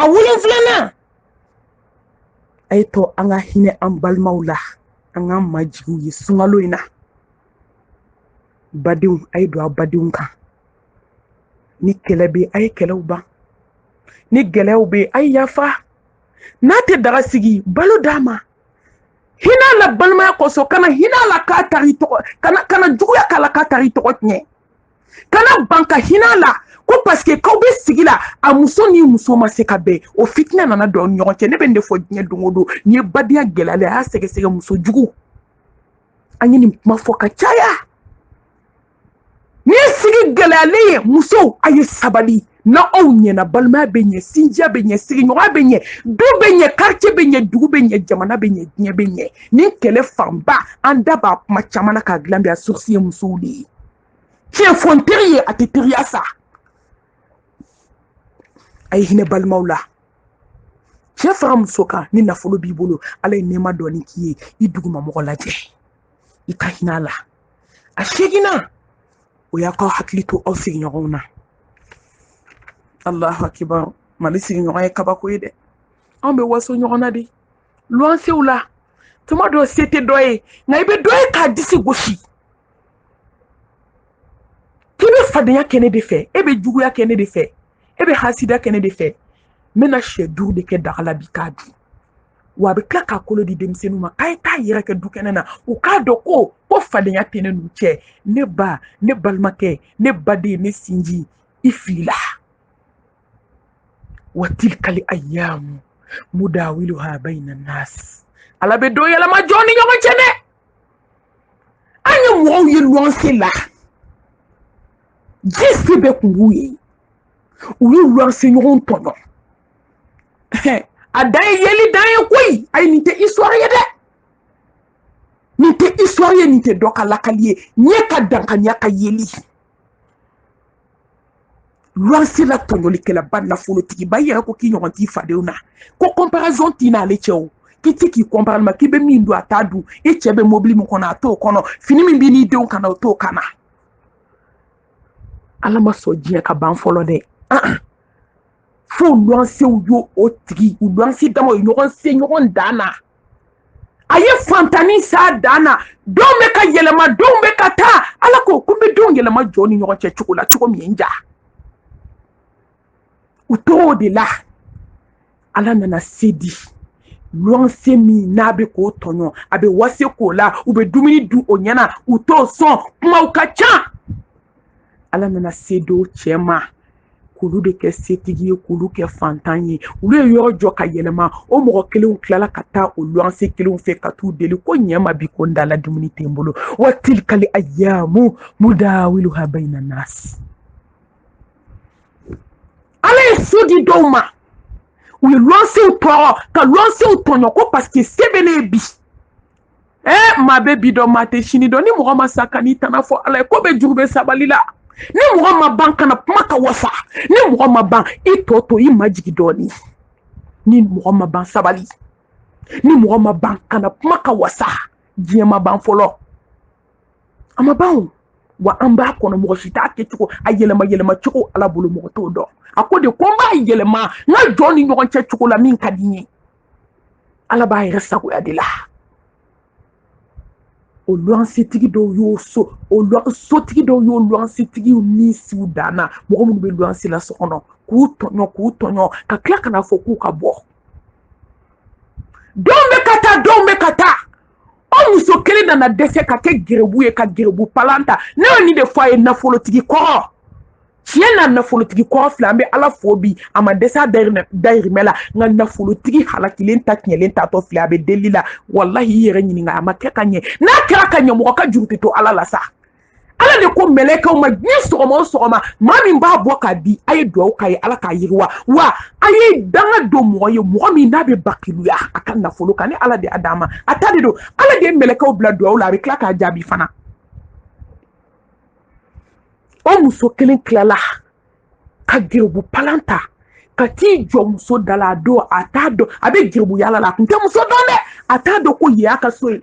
a wolonfilanan a ye to an ka hinɛ an balimaw la an k'an majigiw ye sunkalo in na badenw a ye don aw badenw kan ni kɛlɛ bɛ a ye kɛlɛw ban ni gɛlɛyaw bɛ a ye yafa n'a tɛ daga sigi balo d'a ma hin'a la balimaya kosɔn kana hin'a la ka tag'i tɔgɔ kana kana juguya k'a la ka tag'i tɔgɔ tiɲɛ kana ban ka hin'a la ko paseke k'aw bɛ sigi la a muso ni muso ma se ka bɛn o fitinɛ nana don aw ni ɲɔgɔn cɛ ne bɛ nin de fɔ diɲɛ don o don n'i ye badenya gɛlɛyalen a y'a sɛgɛsɛgɛ muso jugu an ye nin kuma fɔ ka caya n'i ye sigi gɛlɛyalen ye musow a ye sabali ni aw ɲɛna balimaya bɛ ɲɛ sinjiya bɛ ɲɛ sigiɲɔgɔnya bɛ ɲɛ du bɛ ɲɛ quartier bɛ ɲɛ dugu bɛ ɲɛ jamana bɛ ɲɛ diɲɛ bɛ ɲɛ nin kɛlɛ fanba an da b'a kuma caman na k'a dilan bi a source ye musow de ye tiɲɛ fɔ n teri ye a tɛ teriya sa a ye hinɛ balimaw la cɛ fara muso kan ni nafolo b'i bolo ala ye nɛɛma dɔɔni k'i ye i duguma mɔgɔ lajɛ i ka hinɛ a la a seginnan o y'aw k'aw hakili to aw sigiɲɔgɔnw na alahu akibaru mali sigiɲɔgɔn ye kabako ye dɛ anw bɛ waso ɲɔgɔn na de luwansew la tuma dɔ se tɛ dɔ ye nka i bɛ dɔ ye k'a disi gosi k'i bɛ fadenya kɛ ne de fɛ e bɛ juguya kɛ ne de fɛ e bɛ hasidiya kɛ ne de fɛ n bɛna syɛ duuru de kɛ daga la bi k'a dun wa a bɛ tila k'a kolo di denmisɛnninw ma k'a ye taa yɛrɛkɛ du kɛnɛ na u k'a dɔn ko ko fadenya tɛ ne n'u cɛ ne ba ne balimakɛ ne baden ne sinji i filila wa tilka li ayyamu mudawiluha bayna nas ala bɛ don yɛlɛma jɔn ni ɲɔgɔn cɛ dɛ an ye mɔgɔw ye luwanse la ji se bɛ kun b'u ye u ye luwanse ɲɔgɔn tɔɲɔ a dan ye yeli dan ye koyi ayi nin tɛ histoire ye dɛ nin tɛ histoire ye nin tɛ dɔ ka lakali ye ɲɛ ka dankaniya ka yeli luwanse la tɔɲɔlikɛlaba nafolotigiba i yɛrɛ ko k'i ɲɔgɔn t'i fadenw na ko comparaison t'i n'ale cɛ o k'i tɛ k'i compare ma k'i bɛ min dun a t'a dun i cɛ bɛ mobili min kɔnɔ a t'o kɔnɔ fini min b'i n'i denw kan na o t'o kan na ala ma sɔn diɲɛ ka ban fɔlɔ dɛ fo luwansew y'o o tigi u luwanse dama o ye ɲɔgɔn se ɲɔgɔn dan na a ye fantannin s'a dan na donw bɛ ka yɛlɛma donw bɛ ka taa ala ko ko n bɛ donw yɛlɛma jɔn ni ɲɔgɔn cɛ cogo la cogo min ye n diya u t'o de la ala nana se di luwanse min n'a bɛ k'o tɔɲɔ a bɛ waso k'o la u bɛ dumuni dun o ɲɛna u t'o sɔn kumaw ka ca ala nana se di o cɛ ma k'olu de kɛ setigi ye k'olu kɛ fantan ye olu ye yɔrɔ jɔ ka yɛlɛma o mɔgɔ kelenw tilala ka taa o luwanse kelenw fɛ ka t'u deli ko ɲɛ n ma bi ko n dala dumuni tɛ n bolo wa tilikali ayamu mudawiluha bayina nasi ala ye so di dɔw ma u ye luwansew tɔɔrɔ ka luwansew tɔɲɔ ko paseke se bɛ ne ye bi eh maa bɛ bi dɔn maa tɛ sini dɔn ni mɔgɔ ma sa kan'i tana fɔ ala ye ko bɛɛ juru bɛ sabali la ni mɔgɔ ma ban kana kuma ka wasa ni mɔgɔ ma ban i tɔ to i majigin dɔɔni ni mɔgɔ ma ban sabali ni mɔgɔ ma ban kana kuma ka wasa diɲɛ ma ban fɔlɔ a ma ban wa an b'a kɔnɔ mɔgɔ si t'a kɛcogo a yɛlɛma yɛlɛma cogo ala bolo mɔgɔ t'o dɔn a ko de ko n b'a yɛlɛma n ka jɔn ni ɲɔgɔn cɛ cogo la min ka di n ye ala b'a yɛrɛ sagoya de la o luwansitigi dɔw y'o so o sotigi dɔw y'o luwansitigiw ni siw danna mɔgɔ minnu bɛ luwansi la so kɔnɔ k'u tɔɲɔ k'u tɔɲɔ ka tila ka n'a fɔ k'u ka bɔ donw bɛ ka taa donw bɛ ka taa o muso kelen nana dɛsɛ ka kɛ gɛrɛbu ye ka gɛrɛbu palan ta ne ye nin de fɔ a ye nafolotigi kɔrɔ tiɲɛ na nafolotigi kɔrɔ filɛ an bɛ ala fo bi a ma dɛsɛ a dayirimɛ la nka nafolotigi halakilen ta tiɲɛlen taatɔ filɛ a bɛ deli la walahi i yɛrɛ ɲininka a ma kɛ ka ɲɛ n'a kɛra ka ɲɛ mɔgɔ ka juru tɛ to ala la sa ala de ko mɛlɛkɛw ma ni sɔgɔma o sɔgɔma maa min b'a bɔ k'a di a ye dugawu k'a ye ala k'a yiriwa wa a ye danga don mɔgɔ ye mɔgɔ min n'a bɛ bakiluya a ka nafolo kan ni ala de y'a d'a ma a ta de don ala de ye mɛlɛkɛw bila dugawu la a bɛ tila k'a jaabi fana o muso kelen tilala ka geribu palan ta ka t'i jɔ muso da la a don a t'a dɔn a bɛ geribu yaala la a tun tɛ muso dɔn dɛ a t'a dɔn ko yen y'a ka so ye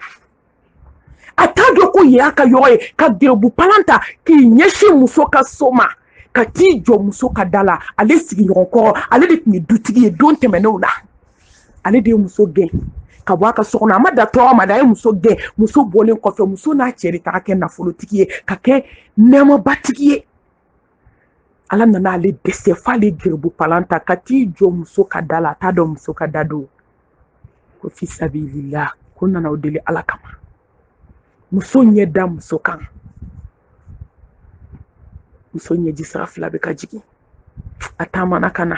a t'a dɔn ko yen y'a ka yɔrɔ ye ka geribu palan ta k'i ɲɛsin muso ka so ma ka t'i jɔ muso ka da la ale sigiɲɔgɔn kɔrɔ ale de tun ye dutigi ye don tɛmɛnenw la ale de ye muso gɛn ka bɔ a ka so kɔnɔ a ma dan tɔɔrɔ ma dɛ a ye muso gɛn muso bɔlen kɔfɛ muso n'a cɛ de taga kɛ nafolotigi ye ka kɛ nɛɛmabatigi ye ala nana ale dɛsɛ f'ale geribu palan ta ka t'i jɔ muso ka da la a t'a dɔn muso ka da don ko fi sabilila ko n nana aw deli ala kama muso ɲɛ da muso kan muso ɲɛji sira fila bɛ ka jigin a taamana ka na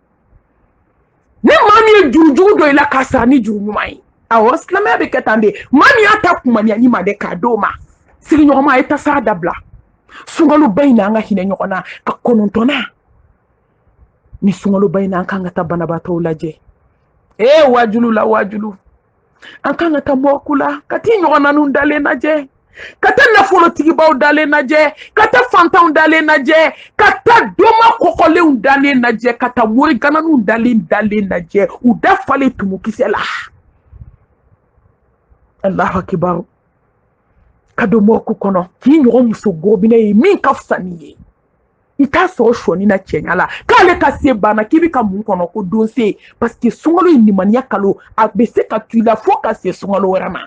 ni maa min ye jurujugu don i la k'a sara ni juru ɲuman ye awɔ silamɛya bɛ kɛ tan de maa min y'a ta kumaniya ni ma dɛ k'a d'o ma sigiɲɔgɔnma a ye tasara dabila sunkaloba in na an ka hinɛ ɲɔgɔn na a kɔnɔntɔnnan nin sunkaloba in na an ka kan ka taa banabaatɔw lajɛ ee waajulu la waajulu an kan ka taa mɔrɔku la ka t'i ɲɔgɔnnaninw dalen lajɛ ka taa nafolotigibaw dalen lajɛ ka taa fantanw dalen lajɛ ka taa doma kɔkɔlenw dalen lajɛ ka taa morigananiw dalen dalen lajɛ u da falen tumukisɛ la alahu akibaru ka don mɔrɔku kɔnɔ k'i ɲɔgɔn muso gobinɛ ye min ka fisa n'i ye i t'a sɔrɔ sɔni na cɛɲa la k'ale ka se banna k'i bɛ ka mun kɔnɔ ko don se parce que sunkalo ye nimaniya kalo a bɛ se ka to i la fo ka se sunkalo wɛrɛ ma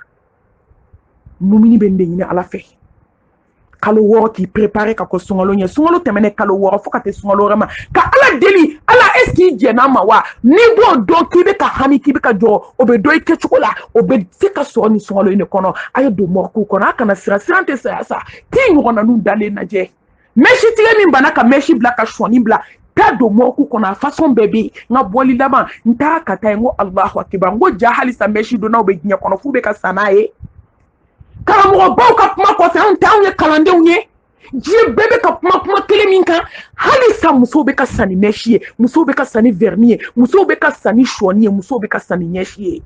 mumini bɛ nin de ɲini ala fɛ kalo wɔɔrɔ k'i prepare ka kɔn sunkalo ɲɛ sunkalo tɛmɛnen kalo wɔɔrɔ fo ka se sunkalo wɛrɛ ma ka ala deli ala est-ce qu'i jɛnn'a ma wa n'i b'o dɔn k'i bɛ ka hami k'i bɛ ka jɔrɔ o bɛ dɔn i kɛcogo la o bɛ se ka sɔrɔ nin sunkalo in de kɔnɔ a ye don mɔrɔku kɔnɔ a kana siran siran tɛ saya sa k'i ɲɔgɔnnaninw dalen lajɛ mɛsi tigɛ min banna ka mɛsi bila ka sɔɔni bila taa don mɔrɔku kɔnɔ a fasɔn bɛɛ bɛ yen n ka bɔli laban n taara ka taa yen n ko alahu akiba n ko jaa halisa mɛsi donnaw bɛ diɲɛ kɔnɔ f'u bɛ ka sa n'a ye karamɔgɔbaw ka kuma kɔfɛ anw tɛ anw ye kalandenw ye diɲɛ bɛɛ bɛ ka kuma kuma kelen min kan halisa musow bɛ ka sa ni mɛsi ye musow bɛ ka sa ni vɛrini ye musow bɛ ka sa ni sɔɔni ye musow bɛ ka sa ni ɲɛsi ye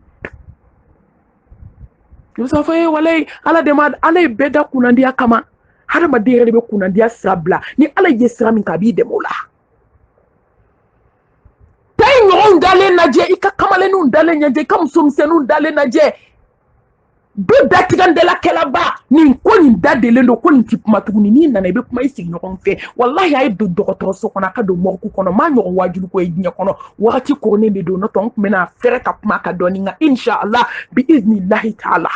i bɛ sɔrɔ fɔ e walayi ala de ma ala ye bɛɛ da kunnandiya kama hadamaden yɛrɛ de bɛ kunnandiya sira bila ni ala ye sira min kan a b'i dɛmɛ o la taa i ɲɔgɔnw dalen lajɛ i ka kamalenninw dalen lajɛ i ka musomisɛnninw dalen lajɛ du datigɛndalakɛlaba nin ko nin da delen don ko nin ti kuma tuguni n'i nana i bɛ kuma i sigiɲɔgɔn fɛ walahi a ye don dɔgɔtɔrɔso kɔnɔ a ka don mɔriku kɔnɔ m'a ɲɔgɔn waajuliko ye diɲɛ kɔnɔ wagati koronnen de don n'o tɛ n tun bɛna fɛrɛ ka kuma ka dɔɔni nka inshallah bi iznillahi taala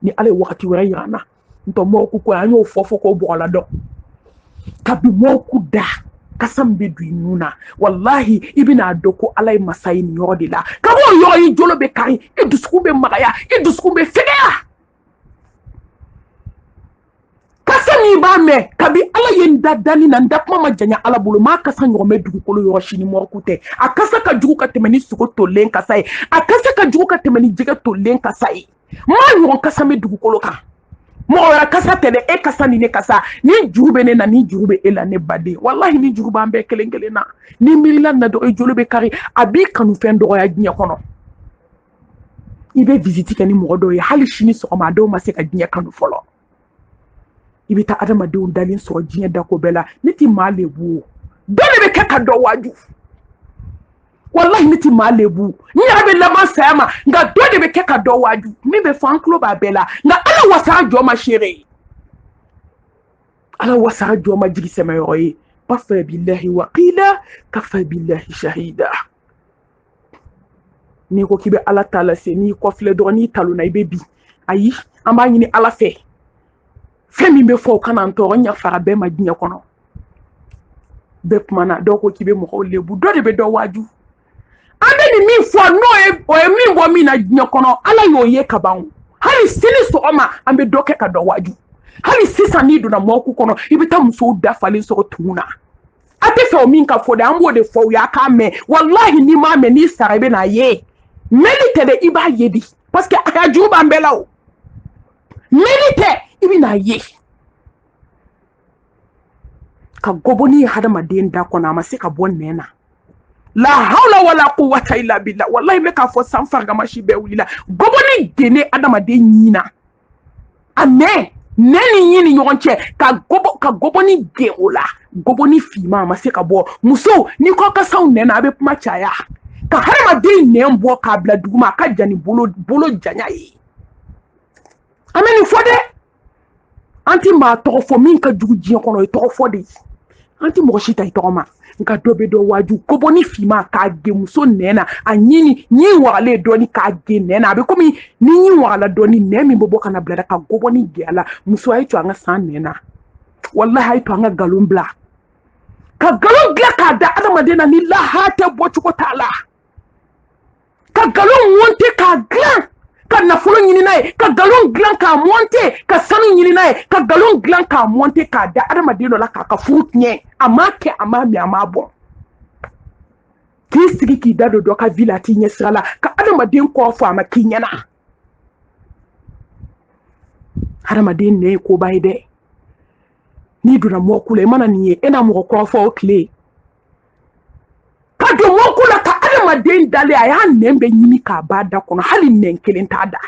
ni ala ye wagati wɛrɛ yira n na n tɔ mɔrɔku ko an y'o fɔ fɔ k'o bɔgɔla dɔn kabi mɔrɔku da kasa min bɛ don i nun na walahi i bɛna dɔn ko ala ye masa ye nin yɔrɔ de la kab'o yɔrɔ i jolo bɛ kari i dusukun bɛ magaya i dusukun bɛ fɛgɛya kasa min b'a mɛn kabi ala ye n da danni na n da kuma ma janya ala bolo m'a kasa ɲɔgɔn mɛn dugukolo yɔrɔ si ni mɔriku tɛ a kasa ka jugu ka tɛmɛ ni sogo tolen kasa ye a kasa ka jugu ka tɛmɛ ni jɛgɛ tolen kasa ye m'a ɲɔgɔn kasa mɛn dugukolo kan mɔgɔ wɛrɛ kasa tɛ dɛ e kasa ni ne kasa ni juru bɛ ne na ni juru bɛ e la ne baden walahi ni juru b'an bɛɛ kelen kelen na n'i miirila na dɔrɔn i jolo bɛ kari a b'i kanufɛn dɔgɔya diɲɛ kɔnɔ i bɛ visiti kɛ ni mɔgɔ dɔw ye hali sini sɔgɔma a dɔw ma se ka diɲɛ kanu fɔlɔ i bɛ taa adamadenw dalen sɔrɔ diɲɛ dako bɛɛ la ne tɛ maa lebu o dɔ de bɛ kɛ ka dɔ waaju walahi ne tɛ maa lebu n yɛrɛ bɛ laban saya ma nka dɔ de bɛ kɛ ka dɔ waaju min bɛ fɔ an tulo b'a bɛɛ la nka ala wasara jɔn ma seere ye ala wasara jɔn ma jigi sɛmɛyɔrɔ ye kafa bilahi wakila kafa bilahi shahida n'i ko k'i bɛ ala ta lase n'i kɔfilɛ dɔrɔn n'i talonna i bɛ bin ayi an b'a ɲini ala fɛ fɛn min bɛ fɔ o kana n tɔɔrɔ n yafara bɛɛ ma diɲɛ kɔnɔ bɛɛ kumana dɔw ko k'i bɛ mɔgɔw lebu dɔ de bɛ dɔ waaju an bɛ nin min fɔ n'o ye o ye min bɔ min na diɲɛ kɔnɔ ala y'o ye ka ban hali sini sɔgɔma an bɛ dɔ kɛ ka dɔ waaju hali sisan n'i donna morgue kɔnɔ i bɛ taa musow da falen sɔrɔ tumu na a tɛ fɛ o min ka fɔ dɛ an b'o de fɔ aw ye a k'a mɛn walahi n'i m'a mɛn n'i sara i bɛ n'a ye mɛnni tɛ dɛ i b'a ye de parce que a ka juru b'an bɛɛ la o mɛnni tɛ i bɛ n'a ye ka gɔbɔni ye hadamaden da kɔnɔ a ma se ka bɔ nɛn na la hawla wala quwwata illa billah wallahi n bɛ k'a fɔ san farigamasi bɛɛ wulila gɔbɔni genne adamaden ɲin na a nɛn nɛn ni ɲin ni ɲɔgɔn cɛ ka gɔbɔni ge o la gɔbɔni finma a ma se ka bɔ musow ni kɔ kasaw nɛn na a bɛ kuma caya ka hadamaden nɛn bɔ k'a bila duguma a ka jan ni bolo janya ye an bɛ nin fɔ dɛ an tɛ maa tɔgɔ fɔ min ka jugu diɲɛ kɔnɔ o ye tɔgɔ fɔ de ye an tɛ mɔgɔ si ta i tɔgɔ ma nka dɔ bɛ dɔ waaju gɔbɔni finma k'a ge muso nɛn na a ɲin ni ɲin wagalen dɔɔni k'a ge nɛn na a bɛ komi ni ɲin wagala dɔɔni nɛn min bɛ bɔ ka na bila ka gɔbɔni ge a la muso a ye to an ka siran nɛn na walahi a ye to an ka nkalon bila ka nkalon dilan k'a da adamaden na ni lahara tɛ bɔcogo t'a la ka nkalon monte k'a dilan ka nafolo ɲini n'a ye ka nkalon dilan k'a monte ka sanu ɲini n'a ye ka nkalon dilan k'a monte k'a da adamaden dɔ la k'a ka furu tiɲɛ a m'a kɛ a m'a min a m'a bɔn k'i sigi k'i da don dɔ ka vie la a t'i ɲɛ sira la ka adamaden kɔrɔfɔ a ma k'i ɲɛna adamaden nɛn ye koba ye dɛ n'i donna morgue la i mana nin ye e na mɔgɔ kɔrɔfɔ o tile ka don morgue la ka adamaden dalen a y'a nɛn bɛɛ ɲimi k'a b'a da kɔnɔ hali nɛn kelen t'a da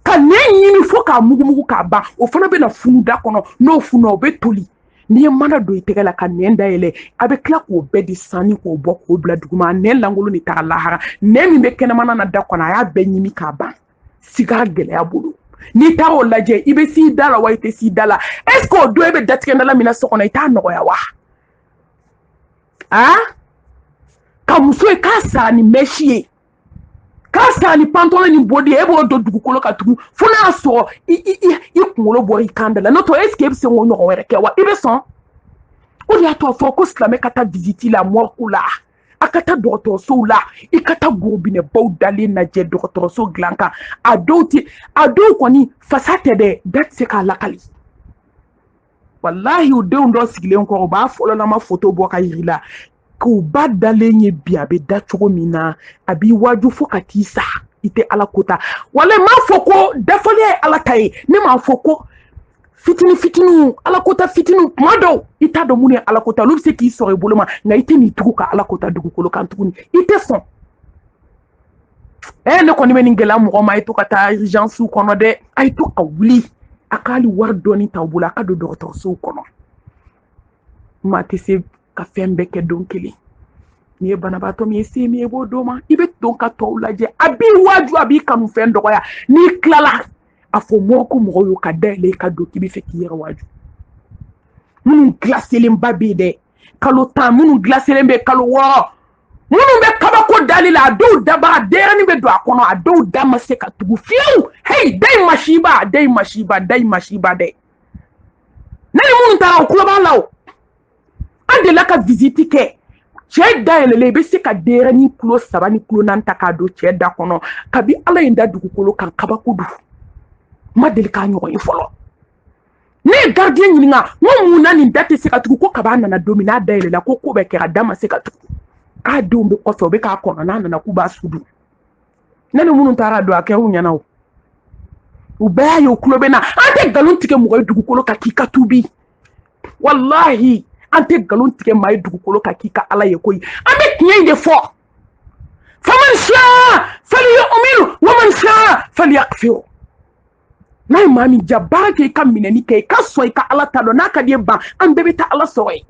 ka nɛn ɲimi fo k'a mugumugu k'a ban o fana bɛna funu da kɔnɔ n'o fununa o bɛ toli n'i ye mana don i tɛgɛ la ka nɛn dayɛlɛ a bɛ tila k'o bɛɛ di sanni k'o bɔ k'o bila duguma a nɛn lankolon de taga lahara nɛn min bɛ kɛnɛmana na da kɔnɔ a y'a bɛɛ ɲimi k'a ban siga gɛlɛya bolo n'i taara o lajɛ i bɛ s'i da la wa i tɛ s'i da la est ce que o don e bɛ datigɛndala min na so kɔnɔ i t'a nɔgɔya wa aa ka muso ye k'a sara ni mɛsi ye k'a sara ni pantalon ni bodi ye e b'o don dugukolo ka tugu fo n'a y'a sɔrɔ i kunkolo bɔra i kan da la n'o tɛ est ce que e bɛ se k'o ɲɔgɔn wɛrɛ kɛ wa i bɛ sɔn o de y'a to a fɔra ko silamɛ ka taa visite la morgue la a ka taa dɔgɔtɔrɔsow la i ka taa gorobinɛbaw dalen lajɛ dɔgɔtɔrɔso dilan kan a dɔw tɛ a dɔw kɔni fasa tɛ dɛ da tɛ se k'a lakali walahi u denw dɔ sigilen kɔrɔ u b'a fɔlɔlama foto bɔ k'a yir'i la k'u ba dalen ye bi a bɛ da cogo min na a b'i waaju fo ka t'i sa i tɛ ala ko ta wala m'a fɔ ko dafaliya ye ala ta ye ne m'a fɔ ko fitini fitiniw alakota fitiniw kuma dɔw i t'a dɔn minnu ye alakota olu bɛ se k'i sɔrɔ i bolo ma nka i tɛn'i tugu ka alakota dugukolo kan tuguni i tɛ sɔn ee ne kɔni bɛ nin gɛlɛya mɔgɔ ma a ye to ka taa urgencew kɔnɔ dɛ a ye to ka wuli a ka hali wari dɔɔni ta aw bolo a ka don dɔgɔtɔrɔsow kɔnɔ maa tɛ se ka fɛn bɛɛ kɛ don kelen n'i ye banabaatɔ min ye se min ye i b'o d'o ma i bɛ don ka tɔw lajɛ a b'i waaju a b'i kanu fɛn dɔgɔya n'i tilala a fɔ morgue mɔgɔ y'o ka da yɛlɛ i ka don k'i b'a fɛ k'i yɛrɛ waaju minnu gilaselenba bɛ yen dɛ kalo tan minnu gilaselen bɛ kalo wɔɔrɔ minnu bɛ kabako dali la a dɔw daba a denyɛrɛni bɛ don a kɔnɔ a dɔw da ma se ka tugu fiyewu heyi dayi masiba dayi masiba dayi masiba dɛ ne ni minnu taara u tulo b'a la o an delila ka visite kɛ cɛ da yɛlɛlen i bɛ se ka denyɛrɛnin kilo saba ni kilo naani ta k'a don cɛ da kɔnɔ kabi ala ye n da dugukolo kan kabako don n ma deli k'a ɲɔgɔn ye fɔlɔ ne ye gardien ɲininka n ko mun na nin da tɛ se ka tugu ko kab'a nana don min n'a da yɛlɛla ko ko bɛɛ kɛra da ma se ka tugu k'a denw bɛ kɔfɛ u bɛ k'a kɔnɔ n'a nana k'u b'a su don ne ni minnu taara a don a kɛr'u ɲɛna o u bɛɛ y'a ye u tulo bɛ n na an tɛ nkalon tigɛ mɔgɔ ye dugukolo kan k'i ka tubi walahi an tɛ nkalon tigɛ maa ye dugukolo kan k'i ka ala ye koyi an bɛ tiɲɛ in de fɔ faman shaa falyu'min waman shaa falyakfur n'a ye maa min ja baara kɛ i ka minɛni kɛ i ka sɔn i ka ala ta dɔn n'a ka d'i ye ban an bɛɛ bɛ taa ala sɔrɔ yen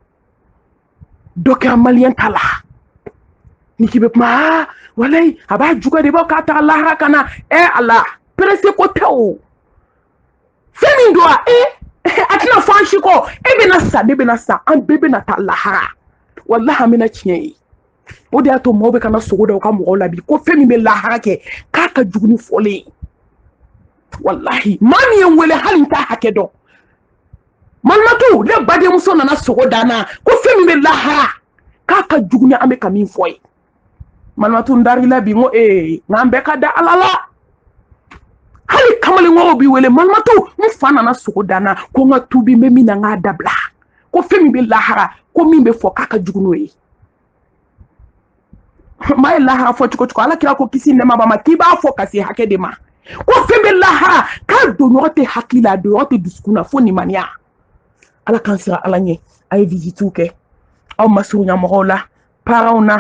dɔ kɛra maliyɛn ta la ni k'i bɛ kuma aa walayi a b'a juguya de b'a k'a taga lahara ka na ɛ a la perese ko tɛ o fɛn min don a e a tɛna fɔ an si kɔ e bɛna sa ne bɛna sa an bɛɛ bɛna taa lahara walahi an bɛna tiɲɛ ye o de y'a to mɔgɔw bɛ ka na sogo da u ka mɔgɔw la bi ko fɛn min bɛ lahara kɛ k'a ka jugu ni fɔlen ye walahi maa min ye n wele hali n t'a hakɛ dɔn Malimatu ne badenmuso nana sogo da n na ko fɛn min bɛ lahara k'a ka jugu ni an bɛ ka min fɔ ye malimatu n dar'i la bi ko ee nka an bɛɛ ka da ala la hali kamalenkɔrɔw bɛ n wele malimatu n fa nana sogo da n na ko n ka tubi n bɛ min na n k'a dabila ko fɛn min bɛ lahara ko min bɛ fɔ k'a ka jugu n'o ye maa ye lahara fɔ cogo cogo ala kira ko kisi nɛɛma b'a ma k'i b'a fɔ ka se hakɛ de ma ko fɛn bɛ lahara k'a donɲɔgɔn tɛ hakili la a donɲɔgɔn tɛ dusukun na fo nimaniya ala k'an siran ala ɲɛ a ye visitiw kɛ aw masurunya mɔgɔw la paranw na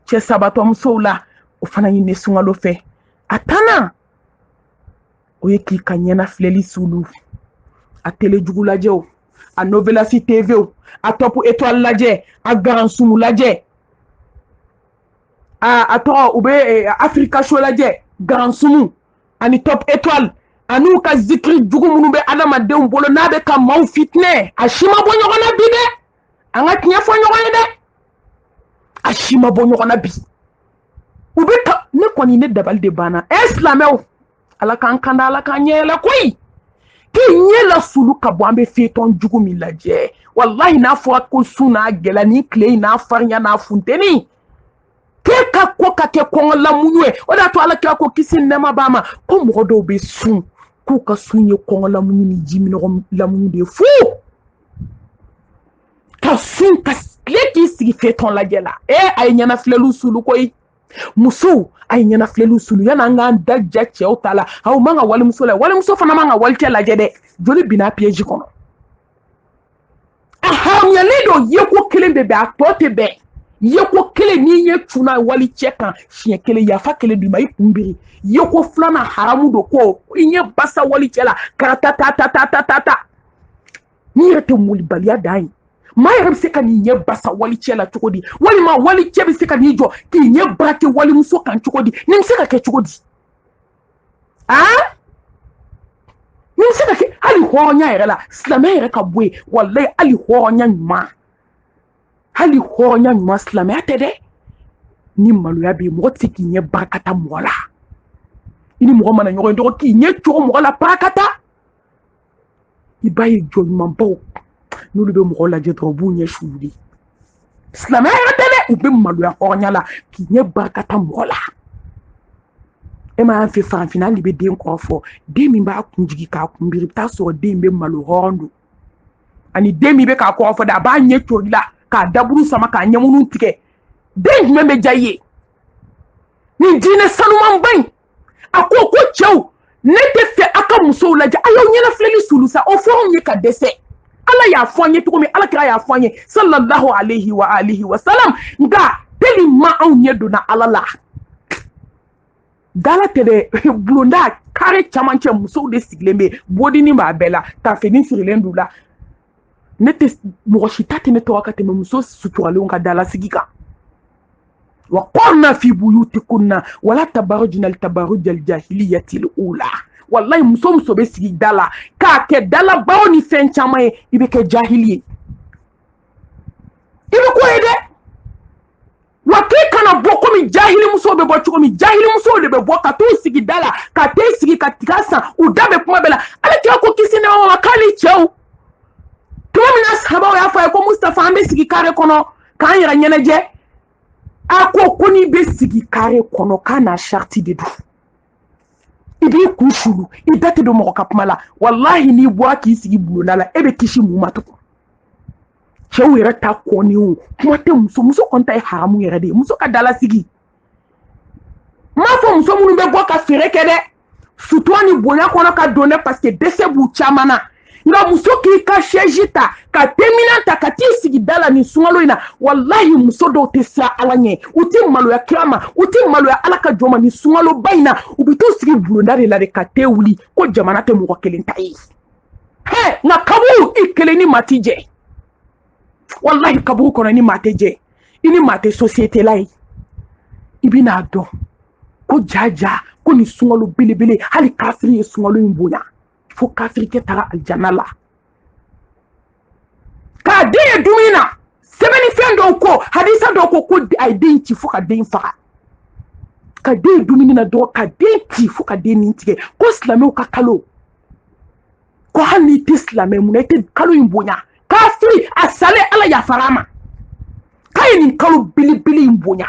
cɛsabatɔmusow la o fana ɲinini sunkalo fɛ a tannan o ye k'i ka ɲɛnafilɛli sulu a tele jugu lajɛ o a novelas tv o a top étoile lajɛ a garansumu lajɛ a a tɔgɔ u bɛ eh, africa show lajɛ garansumu ani top étoile an'u ka zikiri jugu minnu bɛ adamadenw bolo n'a bɛ ka maaw fitinɛ a si ma bɔ ɲɔgɔn na bi dɛ an ka tiɲɛ fɔ ɲɔgɔn ye dɛ a si ma bɔ ɲɔgɔn na bi u bɛ ka ne kɔni ne dabali de banna ɛ silamɛw ala k'an kanda ala k'an ɲɛyɛlɛ koyi k'i ɲɛ la sulu ka bɔ an bɛ fetɔn jugu min lajɛ walahi n'a fɔra ko sun n'a gɛlɛya ni tile in n'a farinya n'a funteni k'e ka ko ka kɛ kɔngɔ lamuɲu ye o de y'a to ala kira ko kisi nɛɛma b'a ma ko mɔgɔ dɔw bɛ sun k'u ka sun ye kɔngɔ lamuɲu ni ji minɔgɔ lamuɲu de ye fu ka sun ka tile k'i sigi fetɔn lajɛ la ee a ye ɲɛnafilɛliw sulu koyi musow a ye ɲɛnafilɛliw sulu yani an k'an da ja cɛw ta la aw man ka walimuso la walimuso fana man ka walicɛ lajɛ dɛ joli binna piyeji kɔnɔ a haramuyalen don yeko kelen bɛ bɛn a tɔ tɛ bɛn yeko kelen n'i ɲɛ cunna walicɛ kan siɲɛ kelen yafa kɛlen d'i ma i kun biri yeko filanan haramu don ko i ɲɛ basa walicɛ la karata ta ta ta ta ta ta nin yɛrɛ tɛ malobaliya dan ye maa yɛrɛ bɛ se ka n'i ɲɛ basa walicɛ la cogo di walima walicɛ bɛ se ka n'i jɔ k'i ɲɛ barake walimuso kan cogo di nin bɛ se ka kɛ cogo di aa nin bɛ se ka kɛ hali hɔrɔnya yɛrɛ la silamɛya yɛrɛ ka bɔ yen walayi hali hɔrɔnya ɲuman hali hɔrɔnya ɲuman silamɛya tɛ dɛ ni maloya bɛ yen mɔgɔ tɛ se k'i ɲɛ barakata mɔgɔ la i ni mɔgɔ mana ɲɔgɔn ye dɔrɔn k'i ɲɛ coron mɔgɔ la barakata i b'a ye jɔn ɲumanbaw n'olu bɛ mɔgɔ lajɛ dɔrɔn u b'u ɲɛ suuli silamɛya yɛrɛ tɛ dɛ u bɛ maloya hɔrɔnya la k'i ɲɛ barakata mɔgɔ la e m'a y'an fɛ farafinna hal'i bɛ den kɔrɔfɔ den min b'a kun jigin k'a kun biri i bɛ taa sɔrɔ den bɛ malo hɔrɔn don ani den min bɛ k'a kɔrɔfɔ dɛ a b'a ɲɛ cor'i la k'a daburu sama k'a ɲɛmunu tigɛ den jumɛn bɛ diya i ye nin diinɛ sanumanba in a ko ko cɛw ne tɛ fɛ a ka musow lajɛ a y'aw ɲɛnafilɛli sulu sa o fɔra anw ye ka dɛsɛ ala y'a fɔ an ye cogo min ala kira y'a fɔ an ye sallallahu alayhi wa alihi wa salam nka tellement anw ɲɛ donna ala la da la tɛ dɛ bulonda kare camancɛ musow de sigilen bɛ bodini b'a bɛɛ la tafini sirilen d'u la ne tɛ mɔgɔ si ta tɛ ne tora ka tɛmɛ muso suturalenw ka dalasigi kan wa korna fi buyutikunna wala tabarujina tabarujal jahiliyatil ula walahi muso muso bɛ sigi da la k'a kɛ dalabaro ni fɛn caman ye i bɛ kɛ jahili ye i bɛ ko ye dɛ wa k'e kana bɔ komi jahilimusow bɛ bɔ cogo min jahilimusow de bɛ bɔ ka t'u sigi da la ka te sigi ka tiga san u da bɛ kuma bɛɛ la ala kira ko kisi nɛɛma b'a kan hali cɛw tuma min na sahabaw y'a fɔ a ye ko mustafa an bɛ sigi kare kɔnɔ k'an yɛrɛ ɲɛnajɛ a ko ko n'i bɛ sigi kare kɔnɔ k'a n'a sariti de don i b'i kun sulu i da tɛ don mɔgɔ ka kuma la walahi n'i bɔra k'i sigi bulonda la e bɛ kisi mun ma tugun cɛw yɛrɛ ta kɔni o kuma tɛ muso muso kɔni ta ye haramu yɛrɛ de ye muso ka dalasigi n m'a fɔ muso minnu bɛ bɔ ka feere kɛ dɛ sutura ni bonya kɔnɔ ka don dɛ parce que dɛsɛ b'u caman na nka muso k'i ka sɛji ta ka teminan ta ka t'i sigi da la nin sunkalo in na walahi muso dɔw tɛ siran ala ɲɛ u tɛ maloya kira ma u tɛ maloya ala ka jɔn ma nin sunkaloba in na u bɛ t'u sigi bulonda de la de ka te wuli ko jamana tɛ mɔgɔ kelen ta ye nka kaburu i kelen ni maa ti jɛ walahi kaburu kɔnɔ ni maa tɛ jɛ i ni maa tɛ sosiyete la ye i bɛn'a dɔn ko jaja ko nin sunkalo belebele hali kafiri ye sunkalo in bonya fo kafirikɛ taara alijana la k'a den ye dumuni na sɛbɛnnifɛn dɔw ko hadisa dɔw ko ko a ye den ci fo ka den faga ka den ye dumuni na dɔrɔn ka den ci fo ka den nin tigɛ ko silamɛw ka kalo ko hali n'i tɛ silamɛ mun na i tɛ kalo in bonya kafiri a salen ala yafara a ma k'a ye nin kalo belebele in bonya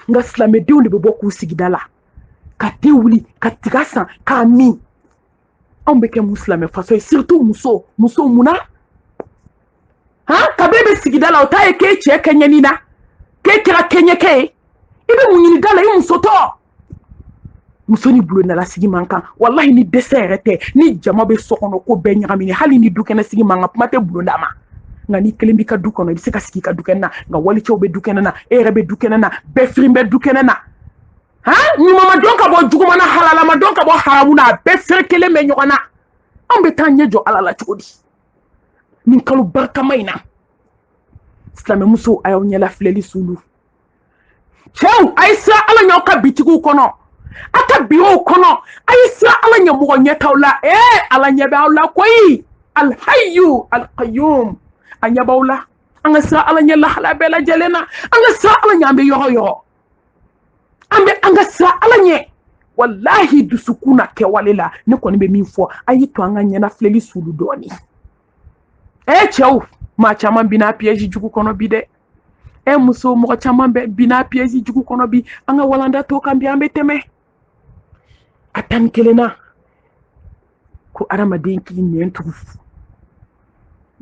nka silamɛdenw de bɛ bɔ k'u sigi da la ka te wuli ka tiga san k'a min anw bɛ kɛ mun silamɛ faso ye surtout muso muso mun na han kabe bɛ sigi da la o t'a ye k'e cɛ kɛɲɛni na k'e kɛra kɛɲɛkɛ ye i bɛ mun ɲini da la i muso tɔ muso ni bulondalasigi man kan walahi ni dɛsɛ yɛrɛ tɛ ni jama bɛ so kɔnɔ ko bɛɛ ɲagamini hali ni dukɛnɛsigi man kan kuma tɛ bulonda ma nka n'i kelen b'i ka du kɔnɔ i bɛ se ka sigi i ka dukɛnɛ na nka walicɛw bɛ dukɛnɛ na e yɛrɛ bɛ dukɛnɛ na bɛɛ firin bɛ dukɛnɛ na ha ɲuman ma dɔn ka bɔ juguman na halala ma dɔn ka bɔ haramu na a bɛɛ ferekelen bɛ ɲɔgɔn na an bɛ taa ɲɛ jɔ ala la cogo di nin kalo barikama in na silamɛmusow a y'aw ɲɛlafilɛli sulu cɛw a ye siran ala ɲɛ aw ka bitigiw kɔnɔ a ka birow kɔnɔ a ye siran ala ɲɛ mɔgɔ ɲɛtaw la ee ala ɲɛ bɛ aw la koyi alhayu alkayum a ɲɛ b'aw la an ka siran ala ɲɛ lahala bɛɛ lajɛlen na an ka siran ala ɲɛ an bɛ yɔrɔ o yɔrɔ an bɛ an ka siran ala ɲɛ walahi dusukun na kɛwale la ne kɔni bɛ min fɔ a y'i to an ka ɲɛnafilɛli sulu dɔɔni ɛ cɛw maa caman bina piɛji jugu kɔnɔ bi dɛ ɛ muso mɔgɔ caman bɛ bina piɛji jugu kɔnɔ bi an ka walanda tɔ kan bi an bɛ tɛmɛ a tan ni kelennan ko adamaden k'i nɛn tugu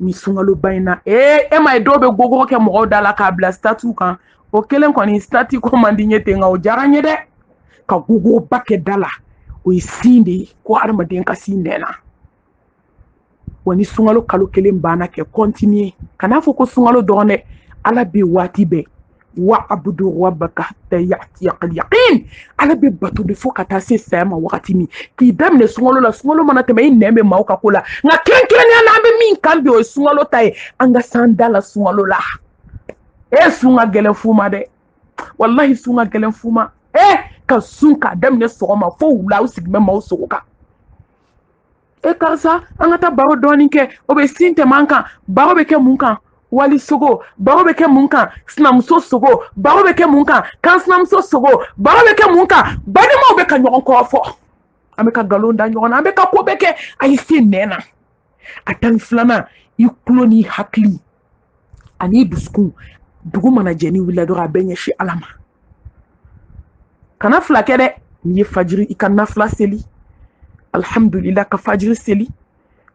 ni sunkaloba in na ee e ma ye dɔw bɛ gogoro kɛ mɔgɔw da la k'a bila statiw kan o kelen kɔni stati ko man di n ye ten nka o diyara n ye dɛ ka gogoroba kɛ da la o ye sin de ye ko adamaden ka se i nɛn na wa ni sunkalo kalo kelen banna k'a kɔntiniye kan'a fɔ ko sunkalo dɔrɔn dɛ ala bɛ waati bɛɛ wa abudu rabbaka hatta ya'tiyakal yaqin ala bɛ bato de fo ka taa se saya ma wagati min k'i daminɛ sunkalo la sunkalo mana tɛmɛ i nɛn bɔ maaw ka ko la nka kɛrɛnkɛrɛnnenya la an bɛ min kan bi o ye sunkalo ta ye an ka se an da la sunkalo la e sun ka gɛlɛn fu ma dɛ walahi sun ka gɛlɛn fu ma e ka sun k'a daminɛ sɔgɔma fo wula u sigi bɛ maaw sogo kan e karisa an ka taa baro dɔɔnin kɛ o bɛ sun tɛmɛ an kan baro bɛ kɛ mun kan wali sogo baro bɛ kɛ mun kan sinamuso sogo baro bɛ kɛ mun kan kan sinamuso sogo baro bɛ kɛ mun kan balimaw bɛ ka ɲɔgɔn kɔrɔfɔ an bɛ ka nkalon da ɲɔgɔn na an bɛ ka ko bɛɛ kɛ a ye se nɛn na a tan ni filanan i tulo n'i hakili ani dusukun dugu mana jɛ n'i wulila dɔrɔn a bɛɛ ɲɛsin ala ma kana fila kɛ dɛ n'i ye fajiri i ka nafila seli alhamdulila ka fajiri seli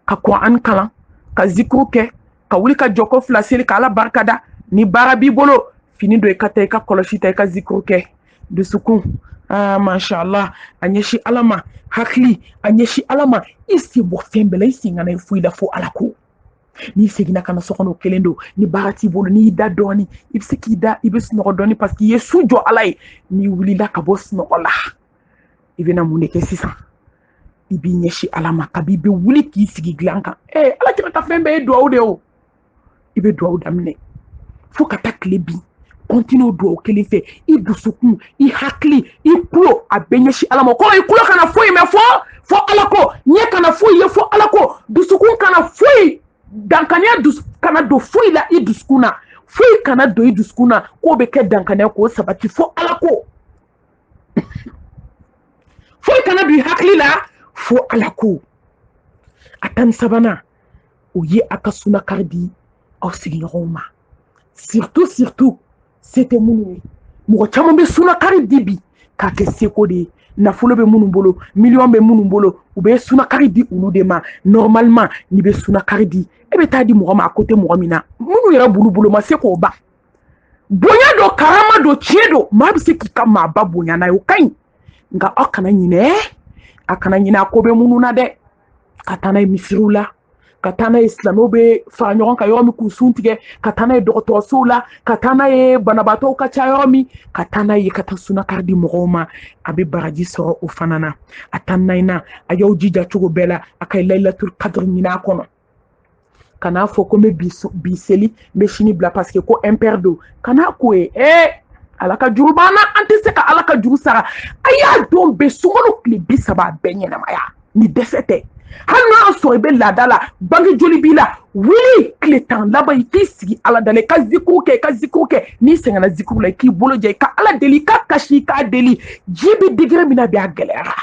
ka kuranɛ kalan ka zikuru kɛ ka wuli ka jɔko fila seli ka ala barika da ni baara b'i bolo fini don i ka taa i ka kɔlɔsi ta i ka zikuru kɛ dusukun ah, mashallah a ɲɛsin ala ma hakili a ɲɛsin ala ma i sen bɔ fɛn bɛɛ la i sen kana ye foyi la fo ala ko n'i seginna ka na so kɔnɔ kelen don ni baara t'i bolo n'i da dɔɔni i bɛ se k'i da i bɛ sunɔgɔ dɔɔni parce que i ye su jɔ ala ye n'i wulila ka bɔ sunɔgɔ la i bɛna mun de kɛ sisan i b'i ɲɛsin ala ma kabi i bɛ wuli k'i sigi dilan kan ee eh, ala kira ka fɛn bɛɛ ye duwawu de ye o i bɛ duwawu daminɛ fo ka taa tile bin kɔntiniye duwawu kelen fɛ i dusukun i hakili i kulo a bɛɛ ɲɛsin ala ma kɔrɔ i kulo kana foyi mɛn fo fo ala ko ɲɛ kana foyi ye fo ala ko dusukun kana foyi dankaniya kana don foyi la i dusukun na foyi kana don i dusukun na k'o bɛ kɛ dankaniya k'o sabati fo ala ko foyi kana don i hakili la fo ala ko a tan ni sabanan o ye a ka sunakari di aw sigiɲɔgɔnw ma surtout surtout se tɛ minnu ye mɔgɔ caman bɛ sunakari di bi k'a kɛ seko de ye nafolo bɛ minnu bolo miliyɔn bɛ minnu bolo u bɛ sunakari di olu de ma normalement n'i bɛ sunakari di e bɛ taa di mɔgɔ ma a ko tɛ mɔgɔ min na minnu yɛrɛ bolo bolo ma se k'o ban bonya don karama don tiɲɛ don maa bɛ se k'i ka maaba bonya n'a ye o ka ɲi nka aw kana ɲinɛ a kana ɲinɛ a ko bɛ minnu na dɛ ka taa n'a ye misiriw la ka taa n'a ye silamɛw bɛ fara ɲɔgɔn kan yɔrɔ min k'u sun tigɛ ka taa n'a ye dɔgɔtɔrɔsow la ka taa n'a ye banabaatɔw ka ca yɔrɔ min ka taa n'a ye ka taa sunakari di mɔgɔw ma a bɛ baraji sɔrɔ o fana na a tan naaninan a y'aw jija cogo bɛɛ la a ka layilatul kadiri ɲin'a kɔnɔ kana fɔ ko n bɛ bi seli n bɛ sini bila paseke ko impɛri don kana k'o ye ee ala ka juru b'an na an tɛ se ka ala ka juru sara a y'a don bɛɛ sunkalo tile bi saba a bɛɛ ɲɛnamaya ni dɛsɛ tɛ hali n'a y'a sɔrɔ i bɛ laada la bange joli b'i la wuli tile tan laban i k'i sigi ala dala i ka zikuru kɛ i ka zikuru kɛ n'i sɛgɛnna zikuru la i k'i bolo jɛ i ka ala deli i ka kasi i k'a deli diɲɛ bɛ degré min na bi a gɛlɛyara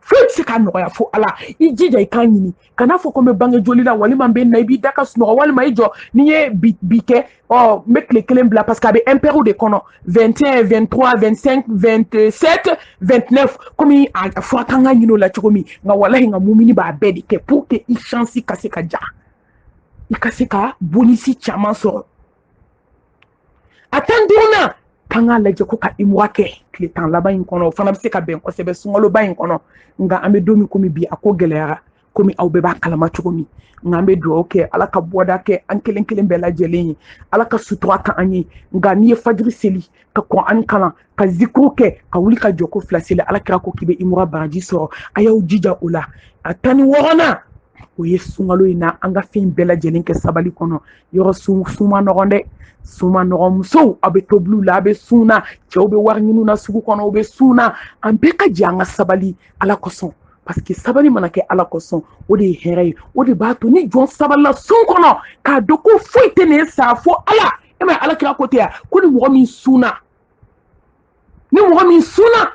foyi tɛ se k'a nɔgɔya fo ala i jija i k'a ɲini kana fɔ ko n bɛ bange joli la walima n bɛ na i b'i da ka sunɔgɔ walima i jɔ n'i ye bi kɛ ɔ n bɛ tile kelen bila parce que a bɛ impɛriw de kɔnɔ 21 23 25 27 29 komi a fɔra k'an ka ɲin'o la cogo min nka walahi nka mumini b'a bɛɛ de kɛ pour que i chance ka se ka diya i ka se ka bonisi caman sɔrɔ a tan duurunan k'an k'a lajɛ ko ka imura kɛ tile tan laban in kɔnɔ o fana bɛ se ka bɛn kosɛbɛ sunkaloba in kɔnɔ nka an bɛ don min komi bi a ko gɛlɛyara komi aw bɛɛ b'a kalama cogo min nka an bɛ dugawu kɛ ala ka bɔda kɛ an kelen kelen bɛɛ lajɛlen ye ala ka sutura kɛ an ye nka n'i ye fajiri seli ka kuranɛ kalan ka zikuru kɛ ka wuli ka jɔko fila seli ala kira ko k'i bɛ imura baraji sɔrɔ a y'aw jija o la a tan ni wɔɔrɔnan o ye sunkalo in na an ka fɛn bɛɛ lajɛlen kɛ sabali kɔnɔ yɔrɔ sun man nɔgɔn dɛ sun man nɔgɔn musow aw bɛ tobiliw la aw bɛ sun na cɛw bɛ wari ɲiniw na sugu kɔnɔ u bɛ sun na an bɛɛ ka jɛ an ka sabali ala kosɔn paseke sabali mana kɛ ala kosɔn o de ye hɛrɛ ye o de b'a to ni jɔn sabalila sun kɔnɔ k'a dɔn ko foyi tɛ nin sara fo ala e m'a ye ala kira ko tɛ yan ko ni mɔgɔ min sunna ni mɔgɔ min sunna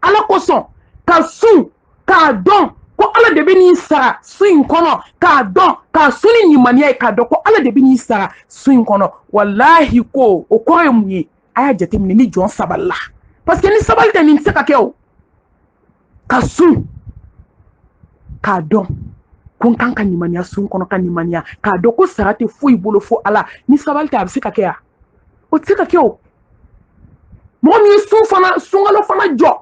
ala kosɔn ka sun k'a dɔn ko ala de bɛ n'i sara sun in kɔnɔ k'a dɔn k'a sun ni limaniya ye k'a dɔn ko ala de bɛ n'i sara sun in kɔnɔ walahi ko o kɔrɔ ye mun ye a y'a jateminɛ ni jɔn sabalila parce que ni sabali tɛ nin tɛ se ka kɛ o ka sun k'a dɔn ko n kan ka nimaniya sun kɔnɔ ka nimaniya k'a dɔn ko sara tɛ foyi bolo fo ala ni sabali tɛ a bɛ se ka kɛ ya o tɛ se ka kɛ o mɔgɔ min ye sun fana sunkalo fana jɔ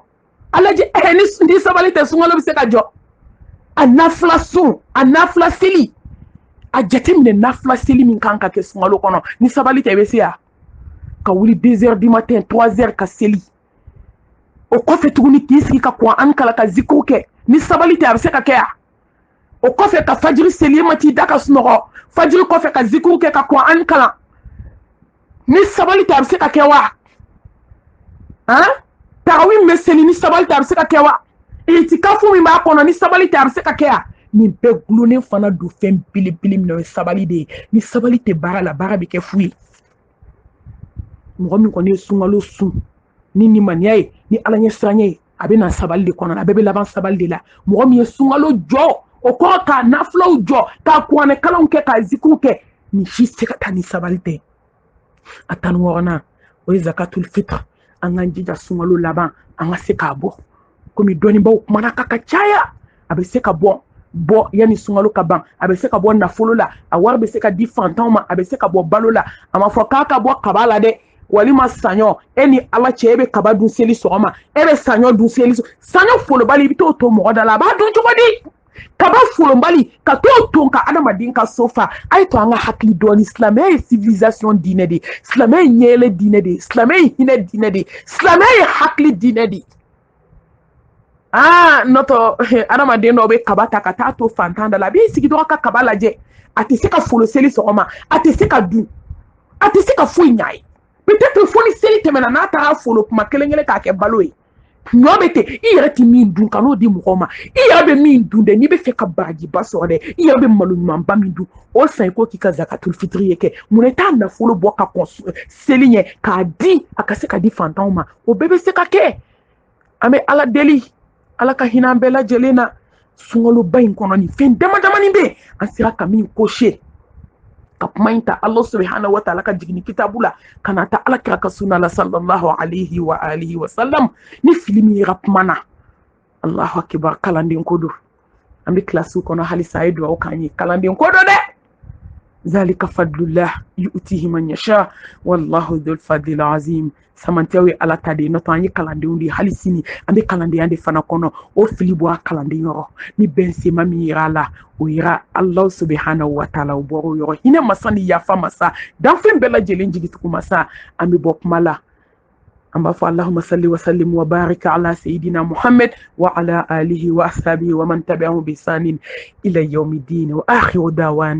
a lajɛ ɛɛ ni sabali tɛ sunkalo bɛ se ka jɔ a nafila sun a nafila seli a jateminɛ nafila seli min kan ka kɛ sunkalo kɔnɔ ni sabali tɛ i bɛ se ya ka wuli deux heures du matin trois heures ka seli o kɔfɛ tuguni k'i sigi ka kuranɛ kalan ka zikuru kɛ ni sabali tɛ a bɛ se ka kɛ ya o kɔfɛ ka fajiri seli e ma t'i da ka sunɔgɔ fajiri kɔfɛ ka zikuru kɛ ka kuranɛ kalan ni sabali tɛ a bɛ se ka kɛ wa han tarawi min bɛ seli ni sabali tɛ a bɛ se ka kɛ wa itikafu min b'a kɔnɔ ni sabali tɛ a bɛ se ka kɛ ya nin bɛɛ gulonnen fana don fɛn belebele min na o ye sabali de ye ni sabali tɛ baara la baara bɛ kɛ fu ye mɔgɔ min kɔni ye sunkalo sun ni nimaniya ye ni ala ɲɛsiranɲɛ ye a bɛ na sabali de kɔnɔna a bɛɛ bɛ laban sabali de la mɔgɔ min ye sunkalo jɔ o kɔrɔ k'a nafilaw jɔ k'a kuranɛ kalanw kɛ k'a zikuruw kɛ nin si tɛ se ka taa ni sabali tɛ a tan ni wɔɔrɔnan o ye zakatul fitr an k'an jija sunkalo laban an ka se k'a bɔ komi dɔnnibaw kumana ka ka caya a bɛ se ka bɔ bɔ yanni sunkalo ka ban a bɛ se ka bɔ nafolo la a wari bɛ se ka di fantanw ma a bɛ se ka bɔ balo la a ma fɔ k'a ka bɔ kaba la dɛ walima saɲɔ e ni ala cɛ e bɛ kaba dun seli sɔgɔma e bɛ saɲɔ dun seli saɲɔ folobali i bɛ t'o to mɔgɔ da la a b'a dun cogo di kaba folonbali ka t'o ton ka adamaden ka so fa a ye to an ka hakili dɔɔni silamɛya ye civilisation diinɛ de silamɛya ye ɲɛyɛlɛ diinɛ de silamɛya ye hinɛ diinɛ de silamɛya ye hakili diinɛ de aa nɔtɔ adamaden dɔw bɛ kaba ta ka taa to fantan da la a b'i sigi dɔrɔn ka kaba lajɛ a tɛ se ka folo seli sɔgɔma a tɛ se ka dun a tɛ se ka foyi ɲ'a ye peut-être fo ni seli tɛmɛna n'a taara a folo kuma kelen kelen k'a kɛ balo ye ɲɔ bɛ ten i yɛrɛ tɛ min dun kan'o di mɔgɔw ma i yɛrɛ bɛ min dun dɛ n'i bɛ fɛ ka barajiba sɔrɔ dɛ i yɛrɛ bɛ malo ɲumanba min dun o san i k'o k'i ka zakatul fitiri ye kɛ mun na i t'a nafolo bɔ ka kɔn seli ɲɛ k'a di a ka se ka di fantanw ma o bɛɛ bɛ se ka kɛ an bɛ ala deli ala ka hinɛ an bɛɛ lajɛlen na sunkaloba in kɔnɔ nin fɛn dama damani bɛ yen an sera ka min kose ka kuma in ta ala subahanahu wa taala ka jigini kitabu la ka n'a ta ala kira ka sunna la sallallahu alayhi wa alihi wa sallam ni fili min yera kuma na allahu akibar kalanden ko don an bɛ kilasiw kɔnɔ halisa a ye dugawu k'an ye kalanden ko don dɛ zalika fadlullah yu'tihi man yasha wallahu dhul fadlil azim samantiyaw ye ala ta de ye n'o tɛ an ye kalandenw de ye hali sini an bɛ kalandenya de fana kɔnɔ o fili bɔra kalanden yɔrɔ ni bɛn sen ma min yera a la o yera ala subahana wa taala o bɔra o yɔrɔ hinɛ masa ni yafa masa danfɛn bɛɛ lajɛlen jigitugu masa an bɛ bɔ kuma la an b'a fɔ allahuma salli wa sallim wa barik ala sayidina muhammad wa ala alihi wa ashabihi wa man tabi'ahum bi ihsanin ila yawmi din wa akhiru dawana